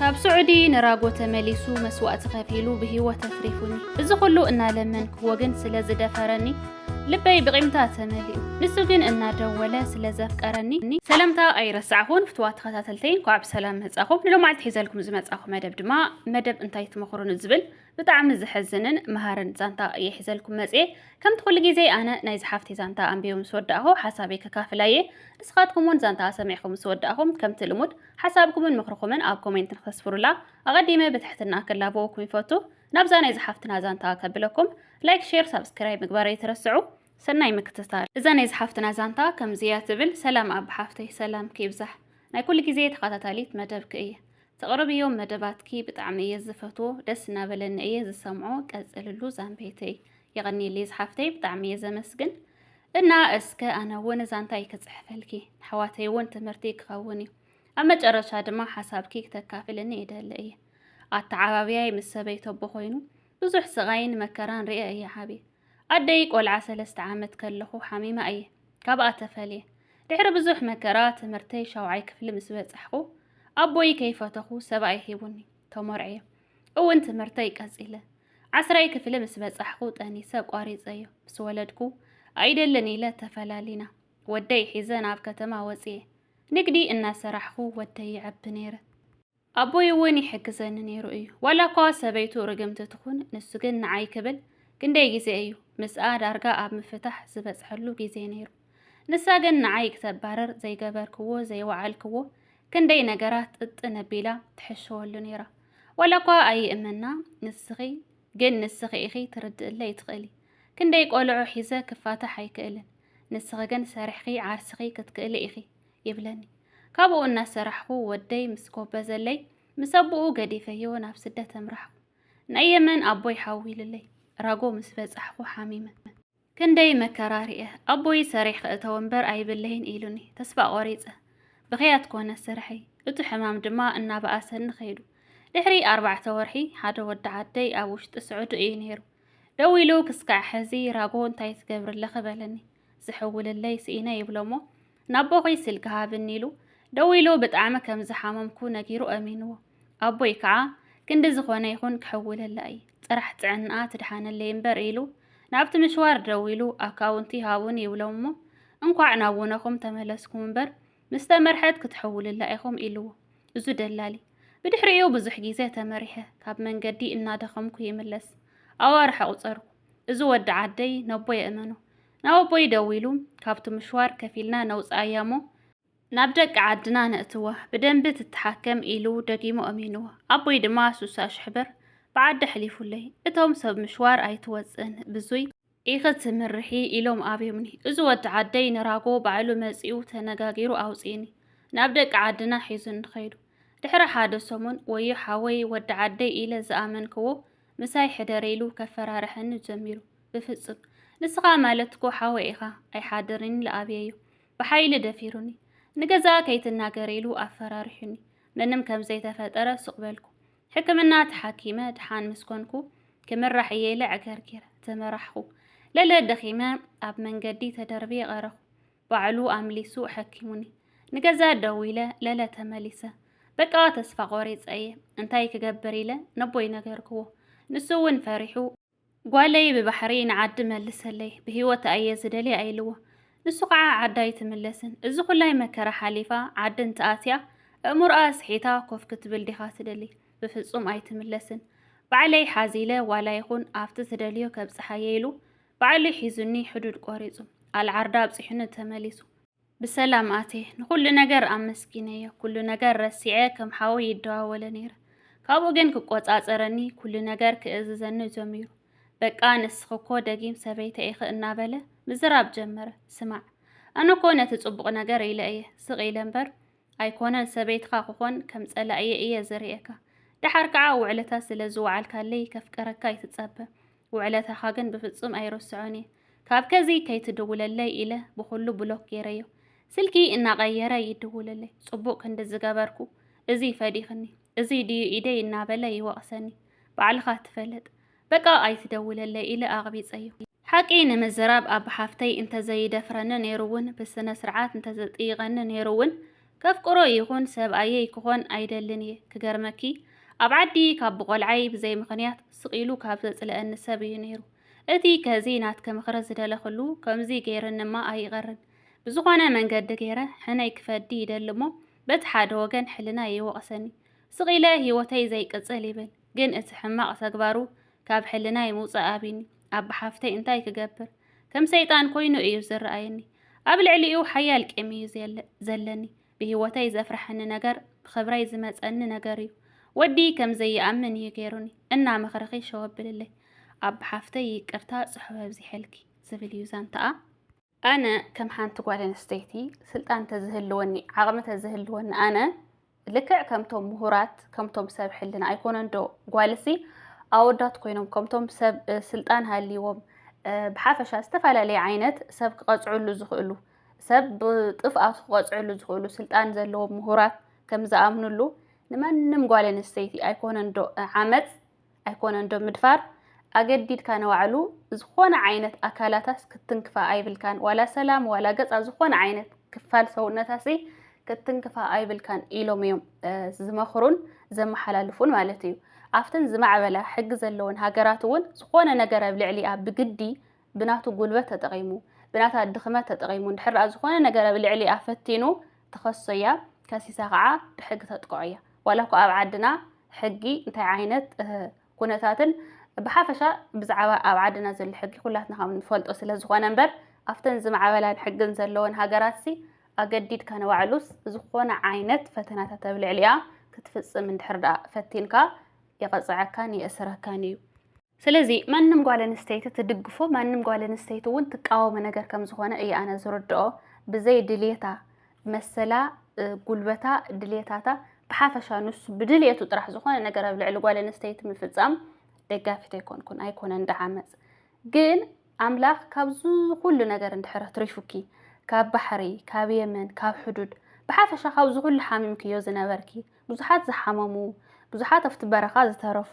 ካብ ስዑዲ ንራጎ ተመሊሱ መስዋእቲ ከፊሉ ብህይወት ኣትሪፉኒ። እዚ ኩሉ እናለመንክዎ ግን ስለ ዝደፈረኒ ልበይ ብቂምታ ተመሊኡ። ንሱ ግን እናደወለ ስለ ዘፍቀረኒ። ሰላምታ ኣይረሳዕኹን ፍትዋ ተኸታተልተይ እንኳዕ ብሰላም መጻኹም። ንሎማዓልቲ ሒዘልኩም ዝመጻኹ መደብ ድማ መደብ እንታይ ትመኽሩ ንዝብል ብጣዕሚ ዘሕዝንን መሃርን ዛንታ እየ ሒዘልኩም መፅኤ ከምቲ ኩሉ ግዜ ኣነ ናይ ዝሓፍቲ ዛንታ ኣንቢቦ ምስ ወዳእኹ ሓሳበይ ከካፍላ እየ ንስኻትኩም እውን ዛንታ ሰሚዕኹም ምስ ወዳእኹም ከምቲ ልሙድ ሓሳብኩምን ምኽርኹምን ኣብ ኮሜንት ንክተስፍሩላ ኣቐዲመ ብትሕትና ክላበወኩም ይፈቱ። ናብዛ ናይ ዝሓፍትና ዛንታ ከብለኩም ላይክ ሼር ሳብስክራይብ ምግባር ኣይትረስዑ። ሰናይ ምክትታል። እዛ ናይ ዝሓፍትና ዛንታ ከምዚ እያ ትብል። ሰላም ኣቢ ሓፍተይ ሰላምኪ ይብዛሕ ናይ ኩሉ ግዜ ተኸታታሊት መደብኪ እየ። ተቕርብዮም መደባትኪ ብጣዕሚ እየ ዝፈትዎ ደስ እናበለኒ እየ ዝሰምዖ ቀፅልሉ ዛንበይተይ። የቐኒየለይ ዝሓፍተይ ብጣዕሚ እየ ዘመስግን። እና እስከ ኣነ እውን ዛንታይ ክፅሕፈልኪ ንኣሕዋተይ እውን ትምህርቲ ክኸውን እዩ ኣብ መጨረሻ ድማ ሓሳብኪ ክተካፍልኒ ይደሊ እየ ኣተዓባብያይ ምስ ሰበይቶ ኣቦ ኮይኑ ብዙሕ ስቓይን መከራን ርኤ እየ ዓብየ ኣደይ ቆልዓ ሰለስተ ዓመት ከለኹ ሓሚማ እየ ካብኣ ተፈልየ ድሕሪ ብዙሕ መከራ ትምህርተይ ሻውዓይ ክፍሊ ምስ በጻሕኹ ኣቦይ ከይፈተኹ ሰብኣይ ሂቡኒ ተመርዕየ። እውን ትምህርተይ ቀጺለ። ዓስራይ ክፍሊ ምስ በጻሕኩ ጠኒሰ ኣቋሪጸዮ። ምስ ወለድኩ ኣይደልን ኢለ ተፈላሊና። ወደይ ሒዘ ናብ ከተማ ወጽየ። ንግዲ እናሰራሕኩ ወደይ ይዐቢ ነይረ። ኣቦይ እውን ይሕግዘኒ ነይሩ እዩ። ዋላ እኳ ሰበይቱ ርግምቲ ትኹን ንሱ ግን ንዓይ ክብል ክንደይ ግዜ እዩ ምስኣ ዳርጋ ኣብ ምፍታሕ ዝበጽሐሉ ግዜ ነይሩ። ንሳ ግን ንዓይ ክተባርር ዘይገበርክዎ ዘይወዓልክዎ ክንደይ ነገራት ጥጥ ነቢላ ትሕሸወሉ ነይራ። ዋላ እኳ ኣይእመና ንስኺ ግን ንስኺ ኢኺ ትርድእለይ ትኽእሊ ክንደይ ቆልዑ ሒዘ ክፋታሕ ኣይክእልን ንስኺ ግን ሰሪሕኺ ዓርስኺ ክትክእሊ ኢኺ ይብለኒ። ካብኡ እናሰራሕኹ ወደይ ምስ ጎበዘለይ ምስ ኣቦኡ ገዲፈዮ ናብ ስደት ኣምራሕኩ። ናይ የመን ኣቦይ ሓዊሉለይ ራጎ ምስ በጻሕኩ ሓሚመ። ክንደይ መከራ ርኤ ኣቦይ ሰሪሕ ክእተው እምበር ኣይብለይን ኢሉኒ ተስፋ ቆሪጸ ብኽያት ኮነ ስርሐይ እቱ ሕማም ድማ እናበኣሰኒ ከይዱ ድሕሪ ኣርባዕተ ወርሒ ሓደ ወዲ ዓደይ ኣብ ውሽጢ ስዑዲ እዩ ነይሩ ደዊሉ ክስካዕ ሕዚ ራጎ እንታይ ትገብርለኺ በለኒ ዝሕውልለይ ስኢነ ይብሎሞ ናቦኺ ስልኪ ሃብኒ ኢሉ ደዊሉ ብጣዕሚ ከም ዝሓመምኩ ነጊሩ ኣሚንዎ። ኣቦይ ከዓ ክንዲ ዝኾነ ይኹን ክሕውለላ እየ ጥራሕ ጥዕንኣ ትድሓነለይ እምበር ኢሉ ናብቲ ምሽዋር ደዊሉ ኣካውንቲ ሃቡኒ ይብሎም እሞ እንኳዕ ናብ ውነኹም ተመለስኩም እምበር ምስ ተመርሐት ክትሕውልላ ኢኹም ኢልዎ እዙ ደላሊ። ብድሕሪኡ ብዙሕ ግዜ ተመሪሐ ካብ መንገዲ እናደኸምኩ ይምለስ ኣዋርሕ ኣቑፀርኩ። እዚ ወዲ ዓደይ ነቦይ እመኖ ናብ ኣቦይ ደዊሉ ካብቲ ምሽዋር ከፊልና ነውጽኣያ እሞ ናብ ደቂ ዓድና ነእትዋ ብደንቢ ትተሓከም ኢሉ ደጊሙ ኣሚንዎ። ኣቦይ ድማ ሱሳ ሽሕ ብር ብዓዲ ኣሕሊፉለይ እቶም ሰብ ምሽዋር ኣይትወጽእን ብዙይ ኢኺ ትምርሒ ኢሎም ኣብዮምኒ። እዚ ወዲ ዓደይ ንራጎ ባዕሉ መጺኡ ተነጋጊሩ ኣውጺእኒ ናብ ደቂ ዓድና ሒዙኒ ከይዱ። ድሕሪ ሓደ ሰሙን ወዮ ሓወይ ወዲ ዓደይ ኢለ ዝኣመንክዎ ምሳይ ሕደር ኢሉ ከፈራርሐኒ ጀሚሩ። ብፍጹም! ንስኻ ማለት'ኮ ሓወይ ኢኻ፣ ኣይሓድርን ኢሉ ኣብየዮ። ብሓይሊ ደፊሩኒ። ንገዛኣ ከይትናገር ኢሉ ኣፈራሪሑኒ። ምንም ከም ዘይተፈጠረ ሱቕ በልኩ። ሕክምና ተሓኪመ ድሓን ምስ ኮንኩ፣ ክምራሕ እየ ኢለ ዕገርጊረ ተመራሕኹ። ለለ ደኺመ ኣብ መንገዲ ተደርብየ ቀረኹ። ባዕሉ ኣምሊሱ ኣሐኪሙኒ። ንገዛ ደዊለ ለለ ተመሊሰ። በቃ ተስፋ ቆሪጸ እየ፣ እንታይ ክገብር ኢለ ነቦይ ነገርክዎ። ንሱ እውን ፈሪሑ። ጓለይ ብባሕሪ ንዓዲ መልሰለይ ብህይወት ኣየ ዝደልያ ኢልዎ ንሱ ከዓ ዓዳ ኣይትምለስን እዚ ኩላይ መከራ ሓሊፋ ዓዲ እንትኣትያ እእምሮኣ ኣስሒታ ኮፍ ክትብል ዲኻ ትደሊ ብፍፁም ኣይትምለስን ባዕለይ ሓዚለ ዋላ ይኹን ኣብቲ ትደልዮ ከብፅሓየ ኢሉ ባዕሉ ሒዙኒ ሕዱድ ቆሪፁ ኣልዓርዳ ኣብፂሑኒ ተመሊሱ ብሰላም ኣትየ ንኹሉ ነገር ኣመስጊነዮ ኩሉ ነገር ረሲዐ ከም ሓወይ ይደዋወለ ነይረ ካብኡ ግን ክቆጻጸረኒ ኩሉ ነገር ክእዝዘኒ ጀሚሩ በቃ ንስኺ እኮ ደጊም ሰበይተ ኢኺ እናበለ ምዝራብ ጀመረ ስማዕ ኣነ እኮ ነቲ ጽቡቕ ነገር ኢለ እየ ስቕ ኢለ እምበር ኣይኮነን ሰበይትኻ ክኾን ከም ጸላእየ እየ ዝርእየካ። ደሓር ከዓ ውዕለታ ስለ ዝወዓልካለይ ከፍቅረካ ኣይትጸበ። ውዕለታኻ ግን ብፍጹም ኣይርስዖን እየ። ካብ ከዚ ከይትድውለለይ ኢለ ብኹሉ ብሎክ ገይረዮ። ስልኪ እናቐየረ ይድውለለይ። ጽቡቕ ክንዲ ዝገበርኩ እዚ ፈዲኽኒ፣ እዚ ድዩ ኢደይ እናበለ ይወቕሰኒ። ባዕልኻ ትፈልጥ። በቃ ኣይትደውለለይ ኢለ ኣቕቢጸዮ። ሓቂ ንምዝራብ ኣባ ሓፍተይ እንተዘይደፍረኒ ነይሩ ውን ብስነ ስርዓት እንተዘጥይቀኒ ነይሩ ውን ከፍቅሮ ይኹን ሰብኣየይ ክኾን ኣይደልን እየ ክገርመኪ ኣብ ዓዲ ካብ ብቆልዓይ ብዘይ ምኽንያት ስቅ ኢሉ ካብ ዘጽልኣኒ ሰብ እዩ ነይሩ እቲ ከዚ ናትኪ ምኽሪ ዝደለኽሉ ከምዚ ገይርንማ ኣይቀርን ብዝኾነ መንገዲ ገይረ ሕነይ ክፈዲ ይደሊ እሞ በቲ ሓደ ወገን ሕልናይ ይወቅሰኒ ስቅ ኢለ ሂወተይ ዘይቅጽል ይብል ግን እቲ ሕማቕ ተግባሩ ካብ ሕልናይ ምውጻእ ኣብዩኒ። ኣብ ሓፍተይ እንታይ ክገብር ከም ሰይጣን ኮይኑ እዩ ዝረኣየኒ። ኣብ ልዕሊኡ ሓያል ቂም እዩ ዘለኒ። ብህይወተይ ዘፍርሐኒ ነገር ብኽብረይ ዝመጸኒ ነገር እዩ። ወዲ ከም ዘይኣምን እዩ ገይሩኒ። እና ምኽርኺ ሸወብልለይ። ኣብ ሓፍተይ ይቅርታ ጽሑፍ ኣብዚሐልኪ ዝብል እዩ ዛንታኣ። ኣነ ከም ሓንቲ ጓል ኣንስተይቲ ስልጣን ተዝህልወኒ ዓቕሚ ተዝህልወኒ ኣነ ልክዕ ከምቶም ምሁራት ከምቶም ሰብ ሕልና ኣይኮነን ዶ ጓልሲ ኣወዳት ኮይኖም ከምቶም ሰብ ስልጣን ሃልዎም ብሓፈሻ ዝተፈላለየ ዓይነት ሰብ ክቐፅዕሉ ዝኽእሉ ሰብ ብጥፍኣቱ ክቐፅዕሉ ዝኽእሉ ስልጣን ዘለዎም ምሁራት ከም ዝኣምንሉ ንማንም ጓል ኣንስተይቲ ኣይኮነን ዶ ዓመፅ ኣይኮነን ዶ ምድፋር ኣገዲድካ ንባዕሉ ዝኾነ ዓይነት ኣካላታስ ክትንክፋ ኣይብልካን ዋላ ሰላም ዋላ ገጻ ዝኾነ ዓይነት ክፋል ሰውነታሲ ክትንክፋ ኣይብልካን ኢሎም እዮም ዝመኽሩን ዘመሓላልፉን ማለት እዩ ኣብተን ዝማዕበላ ሕጊ ዘለወን ሃገራት እውን ዝኾነ ነገር ኣብ ልዕሊኣ ብግዲ ብናቱ ጉልበት ተጠቒሙ፣ ብናታ ድኽመት ተጠቒሙ እንድሕር ደኣ ዝኾነ ነገር ኣብ ልዕሊኣ ፈቲኑ ትኸሶ'ያ፣ ከሲሳ ከኣ ብሕጊ ተጥቅዖ'ያ። ዋላ እኳ ኣብ ዓድና ሕጊ እንታይ ዓይነት ኩነታትን ብሓፈሻ ብዛዕባ ኣብ ዓድና ዘሎ ሕጊ ኩላትና ከም እንፈልጦ ስለ ዝኾነ እምበር፣ ኣብተን ዝማዕበላን ሕግን ዘለወን ሃገራትሲ ኣገዲድካ ንባዕሉስ ዝኾነ ዓይነት ፈተናታት ኣብ ልዕሊኣ ክትፍጽም እንድሕር ደኣ ፈቲንካ የቐጽዐካን የእስረካን'ዩ። ስለዚ ማንም ጓል ኣንስተይቲ ትድግፎ ማንም ጓል ኣንስተይቲ እውን ትቃወሞ ነገር ከም ዝኾነ እዩ ኣነ ዝርድኦ ብዘይ ድልየታ መሰላ ጉልበታ ድልየታታ ብሓፈሻ ንሱ ብድልየቱ ጥራሕ ዝኾነ ነገር ኣብ ልዕሊ ጓል ኣንስተይቲ ምፍፃም ደጋፊት ኣይኮንኩን ኣይኮነን ድዓመፅ ግን ኣምላኽ ካብዚ ኩሉ ነገር እንድሕር ኣትሪፉኪ ካብ ባሕሪ ካብ የመን ካብ ሕዱድ ብሓፈሻ ካብዚ ኩሉ ሓሚምክዮ ዝነበርኪ ብዙሓት ዝሓመሙ፣ ብዙሓት ኣብቲ በረኻ ዝተረፉ፣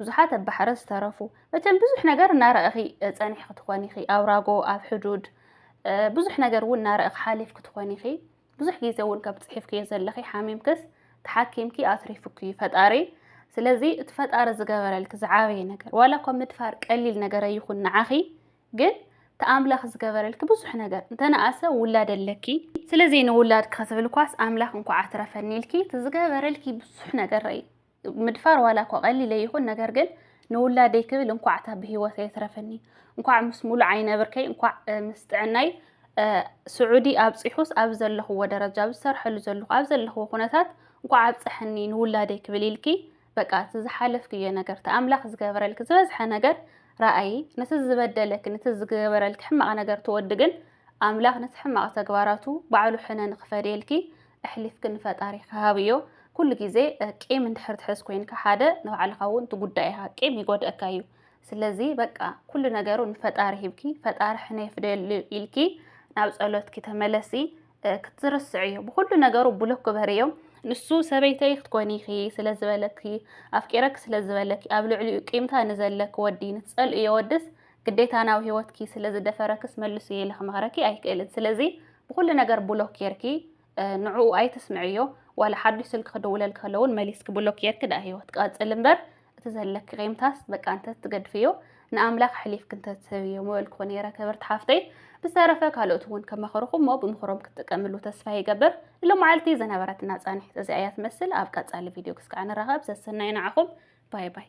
ብዙሓት ኣብ ባሕሪ ዝተረፉ፣ መቸም ብዙሕ ነገር እናረኣኺ ጸኒሕኪ ትኾኒ ኢኺ፣ ኣብ ራጎ፣ ኣብ ሕዱድ ብዙሕ ነገር እውን እናረኣኺ ሓሊፍኪ ትኾኒ ኢኺ። ብዙሕ ግዜ እውን ከም ጽሒፍክዮ ዘለኺ ሓሚምክስ ተሓኪምኪ ኣትሪፉኪ እዩ ፈጣሪ። ስለዚ እቲ ፈጣሪ ዝገበረልኪ ዝዓበየ ነገር ዋላ እኳ ምድፋር ቀሊል ነገር ኣይኹን ንዓኺ ግን ተኣምላኽ ዝገበረልኪ ብዙሕ ነገር እንተነኣሰ ውላድ ኣለኪ ስለዚ ንውላድኪ ክትብልኳስ ኣምላኽ እንኳዕ ኣትረፈኒ ኢልኪ እቲ ዝገበረልኪ ብዙሕ ነገር ረይ ምድፋር ዋላ እኳ ቀሊለ ይኹን ነገር ግን ንውላደይ ክብል እንኳዕ እታ ብሂወተይ ኣትረፈኒ እንኳዕ ምስ ሙሉእ ዓይነ ብርከይ እንኳዕ ምስ ጥዕናይ ስዑዲ ኣብፂሑስ ኣብ ዘለኽዎ ደረጃ ኣብ ዝሰርሐሉ ዘለኹ ኣብ ዘለኽዎ ኩነታት እንኳዕ ኣብፀሐኒ ንውላደይ ክብል ኢልኪ በቃ እቲ ዝሓለፍክዮ ነገር እቲ ኣምላኽ ዝገበረልኪ ዝበዝሐ ነገር ረኣዪ ነቲ ዝበደለኪ ነቲ ዝገበረልኪ ሕማቕ ነገር ትወዲ ግን ኣምላኽ ነቲ ሕማቕ ተግባራቱ ባዕሉ ሕነ ንክፈድየልኪ ኣሕሊፍኪ ንፈጣሪ ክሃብዮ ኩሉ ግዜ ቂም እንድሕር ትሕዝ ኮይንካ ሓደ ንባዕልኻ እውን ትጉዳእ ኢኻ ቂም ይጎድእካ እዩ ስለዚ በቃ ኩሉ ነገሩ ንፈጣሪ ሂብኪ ፈጣሪ ሕነ ይፍደየሉ ኢልኪ ናብ ጸሎትኪ ተመለሲ ክትዝርስዕ እዮ ብኩሉ ነገሩ ብሎክ ክበሪ እዮ ንሱ ሰበይተይ ክትኮኒ ኢኺ ስለ ዝበለኪ ኣፍቂረኪ ስለ ዝበለኪ ኣብ ልዕሊኡ ቂምታ ንዘለኪ ወዲ ንትጸልእዮ ወድስ ግዴታ ናብ ህይወትኪ ስለ ዝደፈረክስ መልሱ ኢለ ክመኽረኪ ኣይክእልን ስለዚ ብኩሉ ነገር ብሎክ ጌርኪ ንዕኡ ኣይትስምዕዮ ዋላ ሓዱሽ ስልኪ ክድውለልኪ ከለውን መሊስኪ ብሎክ ጌርኪ ድኣ ህይወት ቀጽል እምበር እቲ ዘለኪ ቂምታስ በቃ እንተ ትገድፍዮ ንኣምላኽ ኣሕሊፍኪ እንተ ትህብዮ ምበልኩ ነይረ ክብርቲ ሓፍተይ። ብዝተረፈ ካልኦት እውን ከመኸሩኹም እሞ ብምኽሮም ክትጥቀምሉ ተስፋ ይገብር። ንሎማዓልቲ ዝነበረትና ፃንሒት እዚኣ እያ ትመስል። ኣብ ቀፃሊ ቪድዮ ክስካዕ ንራኸብ። ሰሰናዩ ንዓኹም። ባይ ባይ።